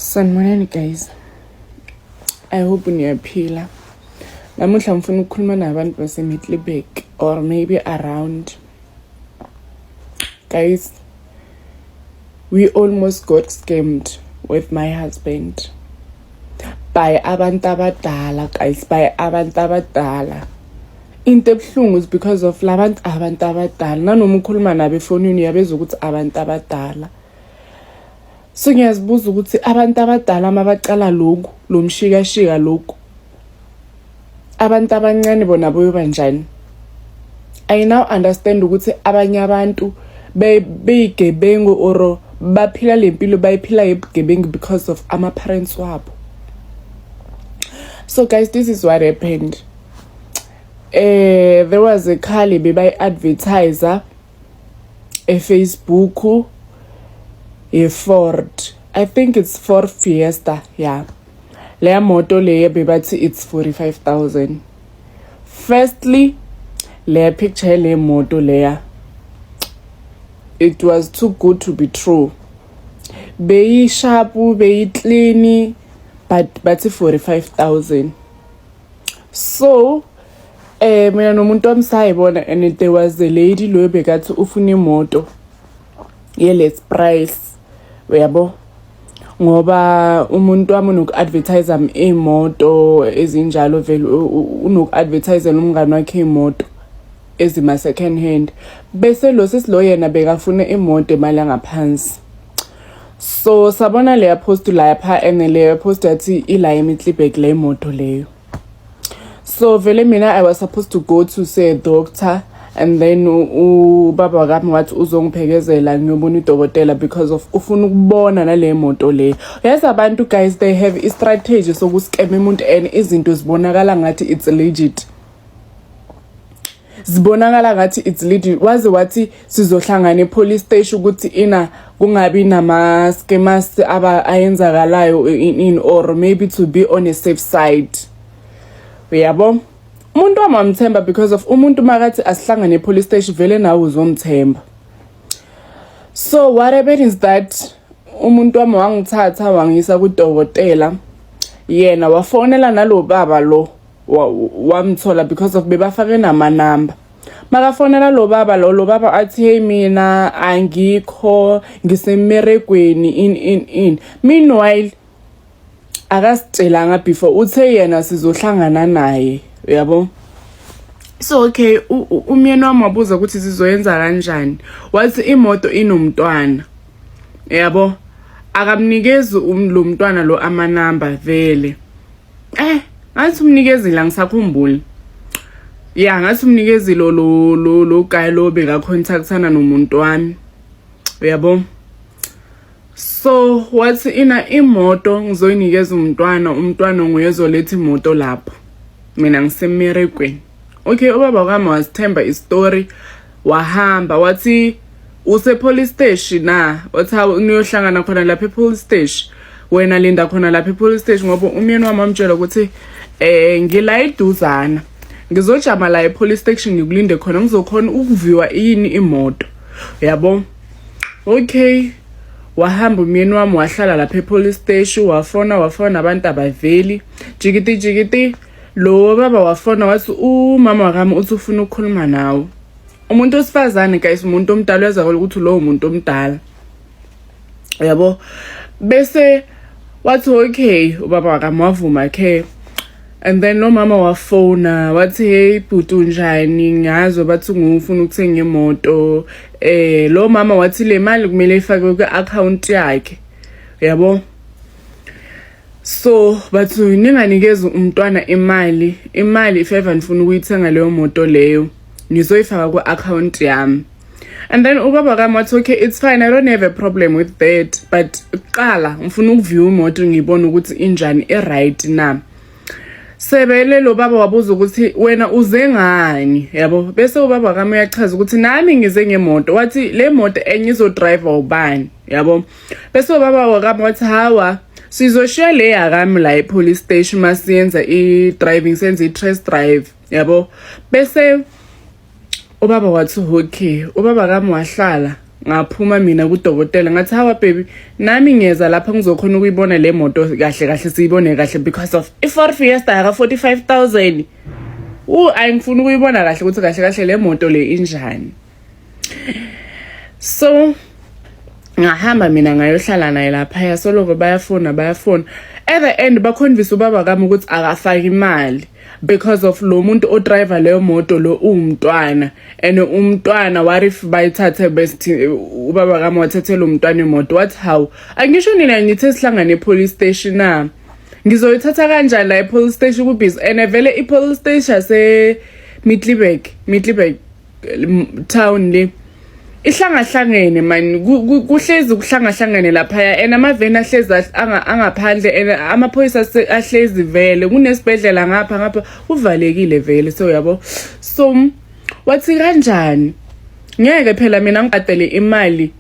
Sanibonani guys. I hope niyaphila. Namuhla ngifuna ukukhuluma nabantu baseMiddelburg or maybe around. Guys, we almost got scammed with my husband by abantu abadala guys by abantu abadala into ebuhlungu is because of labantu abantu abadala nanoma ukhuluma nabo efonini uyabeza ukuthi abantu abadala so ngiyazibuza ukuthi abantu abadala uma baqala lokhu lo mshikashika lokhu abantu abancane bona boyoba njani i now understand ukuthi abanye abantu beyigebengu or baphila le mpilo bayiphila yebugebengu because of ama-parents wabo so guys this is what happened eh there was a khali bebayi-advertiser efacebook ye-ford i think it's ford fiesta ya yeah. leya moto leya bebathi it's 45000 firstly leya picture yale moto leya it was too good to be true beyishapu beyiklini but bathi 45000 so eh mina nomuntu wami sayibona and there was a lady loyo bekathi ufuna imoto yeless price uyabo ngoba umuntu wami unoku-advertise iy'moto ezinjalo vele unoku-advertisela umngane wakhe iy'moto ezima-second hand bese lo sisi lo yena bekafuna imoto emali angaphansi so sabona leya post lapha and leya post athi ila imitlibek le moto leyo so vele mina i was supposed to go to say doctor and then ubaba kami wathi uzongiphekezela ngiyobona udokotela because of ufuna ukubona nale moto le yes abantu guys they have a strategy sokuskema umuntu and izinto zibonakala ngathi it's legit zibonakala ngathi it's leading waze wathi sizohlangana epolice station ukuthi ina kungabi nama skemas aba ayenzakalayo in, in or maybe to be on a safe side uyabo umuntu wamamthemba because of umuntu makathi asihlangane epolice station vele nawe uzomthemba so what happened is that umuntu wami wangithatha wangisa kudokotela yena wafonela nalo baba lo wamthola because of bebafake namanamba makafonela lo baba lo lo baba athi hey mina angikho ngisemmeregweni in in in meanwhile akasitshelanga before uthe yena sizohlangana naye uyabo so okay umyeni wami wabuza ukuthi sizoyenza kanjani wathi imoto inomntwana yabo akamnikezi um, lo mntwana lo amanamba vele eh ngathi umnikezile angisakhumbuli ya ngathi umnikezile lo lo lo guy lo bekacontactana nomuntu wami uyabo so wathi ina imoto ngizoyinikeza umntwana umntwana nguye ozoletha imoto lapho mina ngisemerekweni okay ubaba kwami wasithemba istory wahamba wathi usepolice steshi na wathi hawu niyohlangana khona lapha epolice steshi wena linda khona lapha epolice steshi ngoba umyeni wami wamtshela ukuthi um ngila iduzana ngizojama la epolice station ngikulinde khona ngizokhona ukuviwa yini imoto yabo okay wahamba umyeni wami wahlala lapha epolice station wafona wafona abantu abaveli jikiti jikiti lo baba wafona wathi umama wakami uthi ufuna ukukhuluma nawe umuntu osifazane guys umuntu omdala uyazakala ukuthi lowo muntu omdala yabo bese wathi okay ubaba wakami wavuma ke and then lo mama wafona wathi hey bhuti unjani ngazo bathi ngufuna ukuthenga imoto eh lo mama wathi le mali kumele ifakwe kwi-akhawunti yakhe yabo so bathu ninganikezi umntwana imali imali if ever nifuna ukuyithenga leyo moto leyo ngizoyifaka ku-akhawunti yami and then ubaba kami wathi okay it's fine i don't have a problem with that but kuqala ngifuna ukuview imoto ngiyibone ukuthi injani i-right na sebele lo baba wabuza ukuthi wena uze ngani yabo bese ubaba kami uyachaza ukuthi nami ngize ngemoto wathi le moto enye izodriver ubani yabo bese ubaba wakami wathi hawa sizoshiya le yakami la e-police station uma siyenza i-driving senze i-trest drive yabo bese ubaba wathi okay ubaba kami wahlala ngaphuma mina kudokotela ngathi hawa baby nami ngiyeza lapha ngizokhona ukuyibona le moto kahle kahle siyibone kahle because of i-ford fiesta yaka-45 000 u ayi ngifuna ukuyibona kahle ukuthi kahle kahle le moto le injani so ngahamba mina ngayohlala naye lapha yasoloko bayafona bayafona at the end bakhonvisa ubaba kami ukuthi akafaki imali because of lo muntu odriver leyo moto lo uwumntwana and umntwana what if bayithathe best ubaba kami wathathela umntwana imoto what how angisho nina ngithi sihlangane epolice station na ngizoyithatha kanjani la epolice station kubhizi and vele ipolice station yase Middelburg Middelburg town le ihlangahlangene mani kuhlezi kuhlangahlangene laphaya and amaveni ahlezi angaphandle and amaphoyisa ahlezi vele kunesibhedlela ngapha ngapha kuvalekile vele so yabo so wathi kanjani ngeke phela mina ngibhadele imali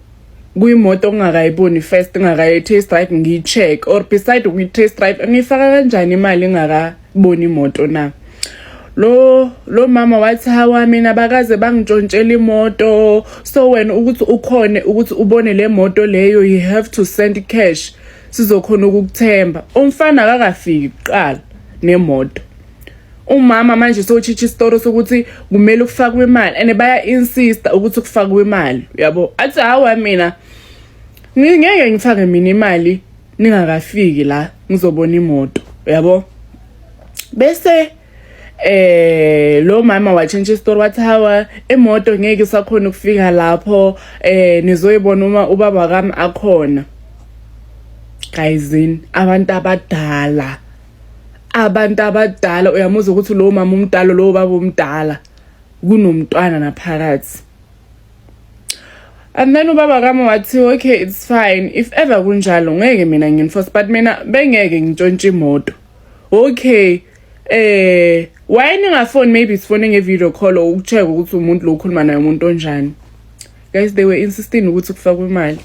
kuyimoto ongakayiboni first ngakayi test drive ngiyi check or beside ukuyi test drive ngiyifaka kanjani imali ngaka bona imoto na lo lo mama wathi hawa mina bakaze bangitshontshela imoto so wena ukuthi ukhone ukuthi ubone le moto leyo you have to send cash sizokhona ukukuthemba umfana akakafiki kuqala nemoto umama manje sowutshintsha isitoro sokuthi kumele kufakwe imali and baya-insista ukuthi kufakwe imali uyabo athi hawa mina ngeke ngifake mina imali ningakafiki la ngizobona imoto yabo bese eh lo mama watshintsha isitori wathi hawa emoto ngeke isakhona ukufika lapho eh nizoyibona uma ubaba kami akhona guysin abantu abadala abantu abadala uyamuza ukuthi lo mama umdala lo baba umdala kunomntwana naphakathi and then ubaba kami wathi okay it's fine if ever kunjalo ngeke mina nginforce but mina bengeke ngintshontshe imoto okay eh why ningafoni maybe sifone ngevideo call ukucheck ukuthi umuntu lo ukhuluma naye umuntu onjani guys they were insisting ukuthi kufakwe imali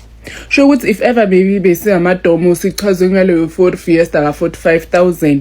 sho ukuthi if ever maybe besingamadomo sichazwe ngaleyo ford fiesta ka-45 000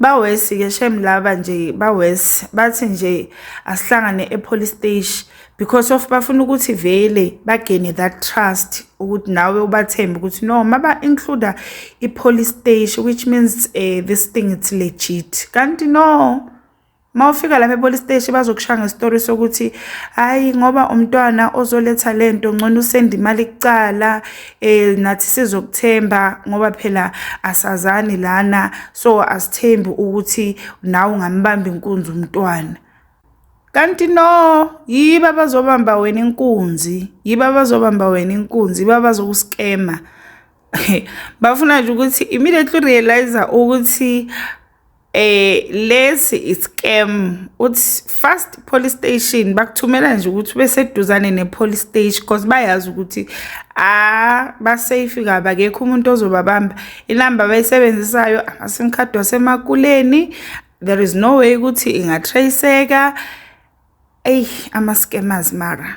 Bawesi ke shem laba nje bawesi bathi nje asihlangane epolice station because of bafuna ukuthi vele bagene that trust ukuthi nawe ubathembe ukuthi no maba include ipolice station which means uh, this thing it's legit kanti no Uma ufika lapha epolice station bazokushaya ngesitori sokuthi hayi ngoba umntwana ozoletha le nto ngcono usenda imali kucala um nathi sizokuthemba ngoba phela asazani lana so asithembi ukuthi nawe ungambamba inkunzi umntwana kanti no yiba bazobamba wena inkunzi yiba bazobamba wena inkunzi yiba bazokuskema bafuna nje ukuthi immediately realizer ukuthi eh lesi iscam uthi fast police station bakuthumela nje ukuthi beseduzane ne police station because bayazi ukuthi ah ba safe kabi akekho umuntu ozobabamba inamba bayisebenzisayo ama sim card wasemakuleni there is no way ukuthi ingatraceka ey ama scammers mara